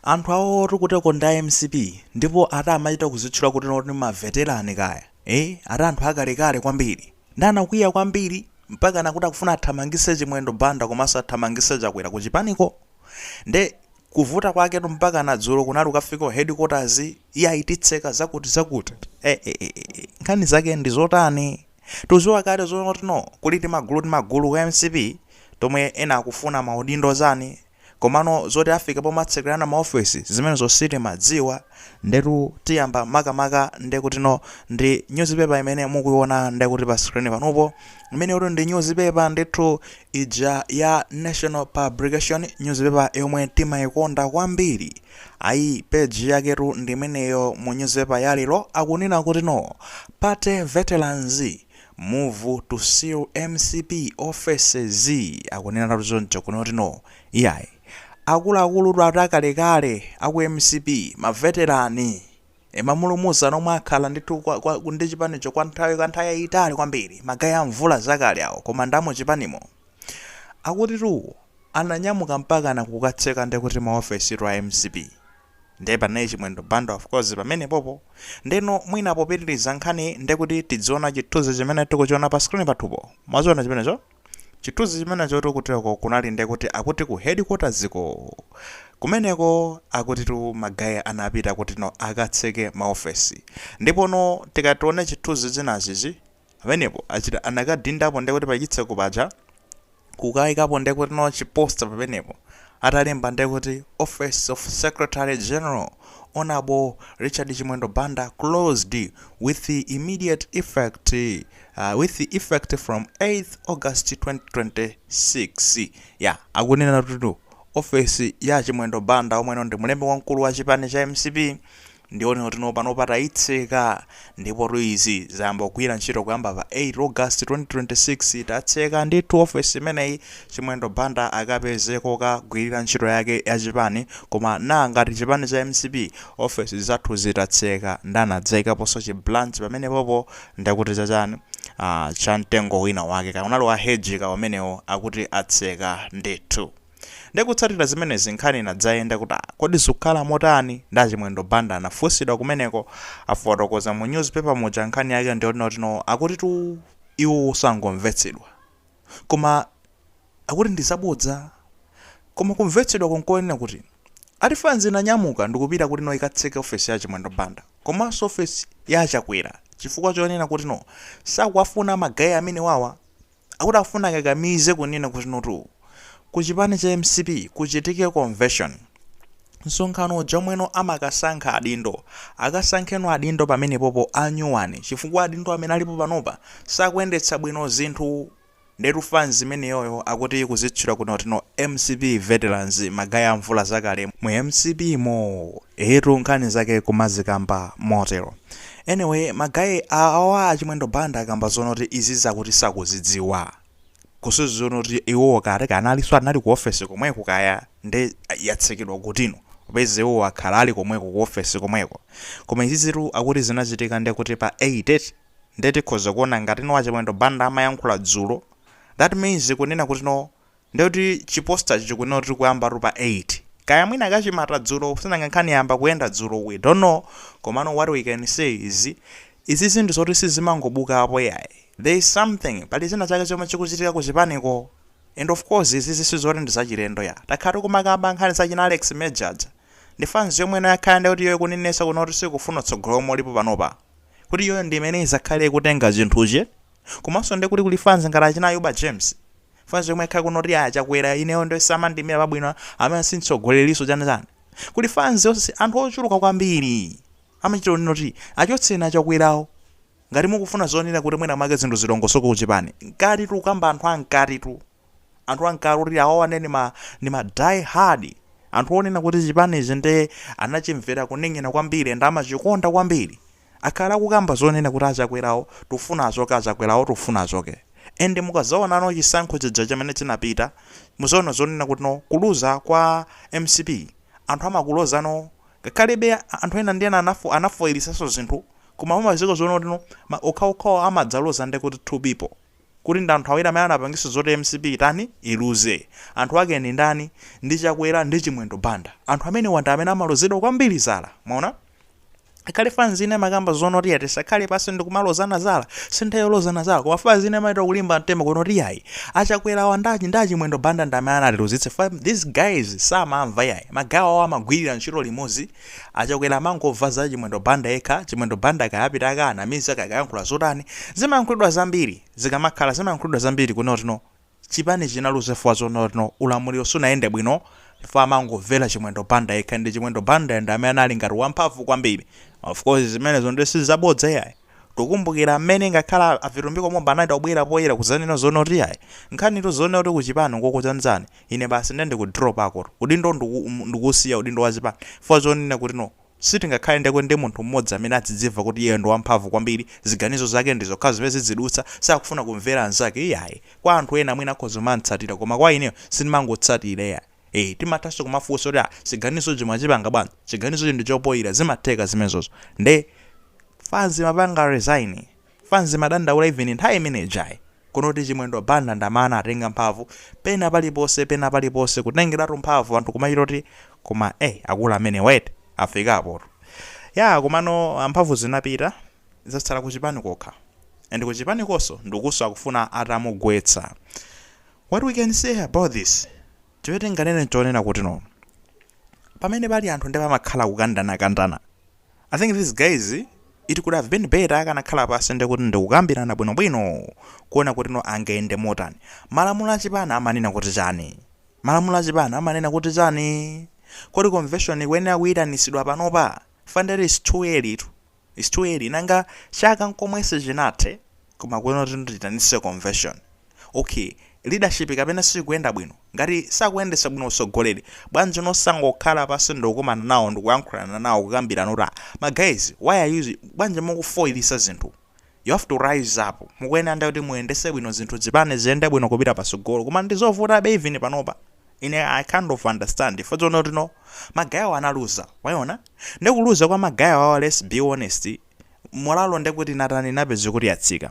Anthu awotu kuteko ndi a mcp ndipo ati amachita kuzitchula kuti kuti ma veterani kaya eeh ati anthu akalekale kwambiri nde anakwiya kwambiri mpakana kuti akufuna athamangise Chimwendo Banda komanso athamangise Chakwera kuchipaniko nde kuvuta kwaketu mpakana dzulo kunali kukafika ku headquarters iyayi titseka zakuti zakuti eeh nkhani zake ndizotani tuziwa kale zoti no kuli timagulu timagulu ku mcp tomwe ena akufuna maudindo zani Komano zoti afika pomatsekerana maofesi zimenezo sitimadziwa ndetu tiyamba makamaka ndekutino ndi news paper imene mukuiona ndekuti pa screen panupo imeneyotu ndi news paper ndithu ija ya national publication news paper yomwe timaikonda kwambiri ayi page yaketu ndi imeneyo mu news paper ya lero akunena kutino party veterans Move to seal mcp offices akuneneratu choncho kuno kuti no iyayi akuluakulutu ati akalekale aku mcp ma veterani e, mamulumuzana omwe akhala ndithu kwa, kwa, ndi chipanicho kwa nthawi kwa nthawi yayitali kwambiri ma guy a mvula zakale awo koma ndi amuchipanimo akutitu awo ananyamuka mpakana kukatseka ndekuti maofesitu a mcp Nde panali chimwendo banda of course pamenepopo. Ndeno mwina popitiriza nkhani ndekuti tidziona chithuzi chimene tikuchiona pa screen pathupo. Mwachiona chimenecho? Chithuzi chimenechotu kuteroko kunali ndekuti akuti ku headquarters ko. Kumeneko akutitu ma guy anapita kutino akatseke maofesi. Ndipono tikati tione chithuzi chinachi chi. pamenepo achita anakadindapo ndekuti pachitseko paja kukaikapo ndekuti no chiposta pamenepo atalemba ndekuti office of secretary general honorable richard chimwendo banda closed with immediate effect uh, with effect from 8 august 2026 ya akunena kuti ofesi ya chimwendo banda omweno ndi mlembi wamkulu wa chipani cha mcp Ndiwonena kuti no panopa tayitseka ndipotu izi zayamba kugwira ntchito kuyamba pa 8 August 2026 tatseka ndithu ofesi imeneyi Chimwendo Banda akapeze kokagwirira ntchito yake ya chipani koma naa ngati chipani cha mcp ofesi zathuzi tatseka nde anadzayikaponso chi branch pamenepopo ndekuti cha chani aah cha mtengo wina wake kaya unali wa hedge ka umenewo akuti atseka ndithu. Nde kutsatira zimenezi nkhani inadzayenda kuti ah kodi zukhala motani nde Chimwendo Banda anafunsidwa kumeneko afotokoza mu news paper muja nkhani yake ndiyoti no akutitu iwowo angomvetsedwa koma akuti ndi zabodza koma kumvetsedwako nkonena kuti ati fanzi inanyamuka ndikupita kuti no ikatseke ofesi ya Chimwendo Banda komanso ofesi ya a Chakwera chifukwa chonena kuti no sakuwafuna ma guy amenewawa akuti akufuna akakamize kunena kuti notu ku chipani cha mcp kuchitike convention, msonkhano uja omweno amakasankha adindo, akasankheno adindo pamenepopo anyuwani chifukwa adindo amene alipo panopa sakuyendetsa bwino zinthu. Ndetu fanz imeneyoyo akuti ikuzitchula kuno tino mcp veterans, magaye a mvula zakale mu mcp mo. Eetu nkhani zake kumazikamba motero. Anyway magaye awa achimwendo banda akamba zonena kuti izi zakuti sakuzidziwa kusonyeza kuti iwowo kale analinso anali ku office komweko kaya nde yatsekedwa kutino popeza iwowo akhala ali komweko ku office komweko koma izizitu akuti zinachitika ndekuti pa 8 nde tikhoza kuona ngatino achimwendo banda amayankhula dzulo that means kunena kutino Ndiye kuti chi poster cho chikunena kuti tikuyambatu pa 8. Kaya mwina kachimata dzulo sinanga nkhani yayamba kuyenda dzulo we don't know komano what we can say is izizi ndi zoti sizimangobuka yayi there is something pali china chake chomwe chikuchitika ku chipaniko and of course izizi sizoti ndi zachilendo ya takhala tikumakamba nkhani za achina Alex Major aja ndi fans yomwe ino yakhala ndikuti iyoyo ikunenetsa kunena kuti sikufuna utsogoleri womwe ulipo panopa kuti iyoyo ndi imene izakhale ikutenga chinthuchi Komanso nde kuti kuli fanzi ngati achina Ayuba James? Fanzi yomwe yakhala kunena kuti a Chakwera ineyo nde samandiimira pabwino, ameneyo si mtsogoleriso chani chani. Kuli fanzi yonse, anthu ochuluka kwambiri. Amachita kunena kuti achotseni a Chakwerawo. Ngati mukufuna zonena kuti mwina mwake zinthu zilongosoke ku chipani, mkatitu tikukamba anthu a mkatitu. Anthu a mkati oti awawa nde ndi ma ndi ma die hard. Anthu onena kuti chipanichi nde anachimvera kuning'ina kwambiri and amachikonda kwambiri. akhala akukamba zonena kuti achakwerawo tikufuna achoke achakwerawo tikufuna achoke and mukazaona no chisankho chija chamene chinapita muzaona zonena kuti no kuluza kwa mcp anthu amakuloza no ngakhalebe anthu ena ndi ena anafoilisaso zinthu koma pomaliza zonena kuti no okhaokhawo amadzaloza ndekuti two people Kuti ndi anthu awiri amene anapangisa zoti mcp itani iluze. Anthu ake ndi ndani? Ndi Chakwera ndi Chimwendo Banda. Anthu amenewa ndi amene amalozedwa kwambiri zala. Mwaona? Kaya fanzi ina imakamba zonena kuti ya tisakhale pansi ndi kumalozana zala. Si nthawi yolozana zala. Koma fanzi ina imachita kulimba mtima kunena kuti yayi. A Chakwera awa ndi ndi a Chimwendo Banda ndi amene anatiluzitsa. Chifukwa these guys samamva yayi. Magaye awa amagwirira ntchito limodzi. Achakwera amangomva za chimwendo Banda yekha, chimwendo Banda kaya apita akawanamiza kaya akayankhula zotani, zimayankhulidwa zambiri, zinkakhala zimayankhulidwa zambiri kunena kuti no chipani chinaluza chifukwa zonena kuti no ulamuliro sunayende bwino chifukwa amangomvera chimwendo Banda yekha and chimwendo Banda ndi amene anali ngati wamphamvu kwambiri, of course zimenezo nde sizabodza iyayi. Tikumbukila mmene ngakhale a Vitumbiko Mumba anachita kubwela poyela kuzanena zonena kuti ayi nkhanitu zonena kuti kuchipani nkokutanzani ine basi nde ndiku dropako tu udindo nduku ndukusiya udindo wa chipani chifukwa chonena kuti no sitingakhale ndekuti ndi munthu mmodzi amene adzidzimva kuti iyeyo ndi wamphamvu kwambili ziganizo zake ndi zokhazo zimene zidzidutsa sakufuna kumvela anzake iyayi kwa anthu ena mwina akhoza kumamtsatila koma kwa ineyo sindimangotsatila iyayi. Eh, timathanso kumafunsa kuti ah, chiganizochi mwachipanga bwanji? Chiganizochi ndi chofoyira, zimatheka zimenezozo. Nde fanzi imapanga resign. Fanzi imadandaula even nthawi imene ijayi. Kunena kuti Chimwendo Banda ndamene atenga mphamvu pena paliponse pena paliponse kutengeratu mphamvu anthu kumachita kuti koma eh akulu amenewatu afikapo. Ya komano ah, mphamvu zinapita zatsala kuchipani kokha. And kuchipanikonso ndikuso akufuna atamugwetsa. What we can say about this, chimene tinganene nchonena kuti no, pamene pali anthu nde pamakhala kukandanakandana. I think these guys it could have been better akanakhala pansi nde kuti ndikukambirana bwinobwino kuona kuti no angayende motani. Malamulo a chipani amanena kuti chani? Malamulo a chipani amanena kuti chani? Kodi convention ikuyenera kuitanitsidwa panopa? Chifukwa nde it's too early tu. It's too early nanga chaka nkomwe sichinathe koma kuyenera kuti tiyitanise convention. Okay leadership kapena siyikuyenda bwino? Ngati sakuyendesa bwino utsogoleri bwanji no osangokhala pasi ndikukumana nawo ndikuyankhulana nawo kukambirana kuti aah ma guys why are you bwanji mukufoilisa zinthu You have to rise up. Mukuyenera nde kuti muyendese bwino zinthu zipani ziyende bwino kupita pasogolo. Koma ndizovutabe even panopa. Ine I kind of understand. Fa zonena kuti no ma guy awa analuza. Waona? Nde kuluza kwa ma guy awawa let's be honest. Molalo nde kuti imatani imapezeka kuti yatsika.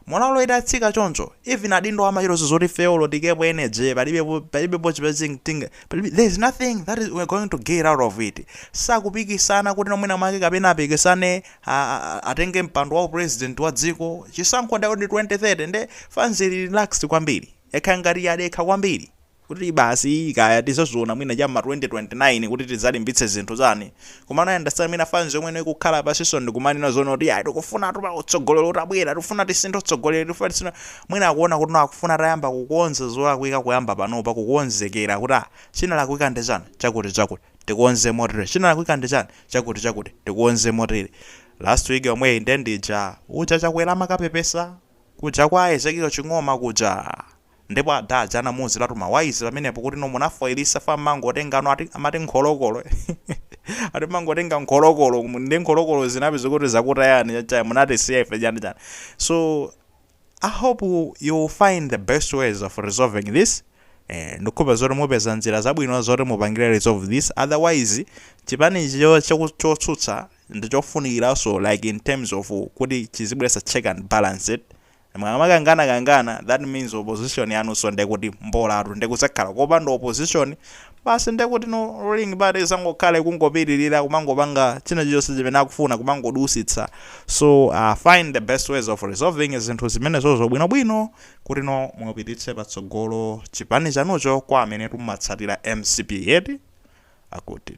Molalo itatsika choncho. Even adindowa amachiona zoti ifeyo olo tiikepo energy. Palibepo palibepo chimene tinga. Palibe there is nothing that is we are going to get out of it. Sakupikisana kuti no mwina mwake kapena apikisane a atenge mpando wa u president wa dziko chisankho ndi 2030 nde fanzi ili relaxed kwambiri yakhala ngati yadekha kwambiri kuti basi iyi kaya tizaziona mwina cha ma 2029 kuti tizalimbitse zinthu chani koma na understand mwina fanzi yomwe ino ikukhala pasiso ndikumanena zonena kuti ayi tikufuna tupa utsogolero utabwera tikufuna tisinthe utsogolero tikufuna tisinthe mwina akuona kuti no akufuna atayamba kukonza zolakwika kuyamba panopa kukonzekera kuti ah chinalakwika ndi chani chakuti chakuti tikonze motere chinalakwika ndi chani chakuti chakuti tikonze motere last week yomweyi nde ndija uja chakwera amakapepesa kuja kwa ezekiel ching'oma kuja ndipo ada aja anamuuziratu mawaizi pamenepo kuti no munafoilisa fa mmangotengano ati amati nkholokolo ati mmangotenga nkholokolo ndi nkholokolo zinapezeka kuti zakutayani chachaya munatisiya ife chani chani so I hope you will find the best ways of resolving this eh, ndikuhopa zoti mupeza njira zabwino zoti mupangire resolve this otherwise chipani ichi cho- choku- chotsutsa ndichofunikiranso like in terms of kuti chizibweretsa check and balances mumakangana kangana that means opposition yanunso ndekuti mbolatu ndiye kudzakhala kopanda opposition Basi ndiye kuti no ruling party izangokhala kungopitirira kumangopanga china chilichonse chimene akufuna kumangodusitsa so uh, find the best ways of resolving zinthu zimenezozo bwinobwino kuti no mupititse patsogolo chipani chanucho kwa amene mumatsatira mcp yeti akuti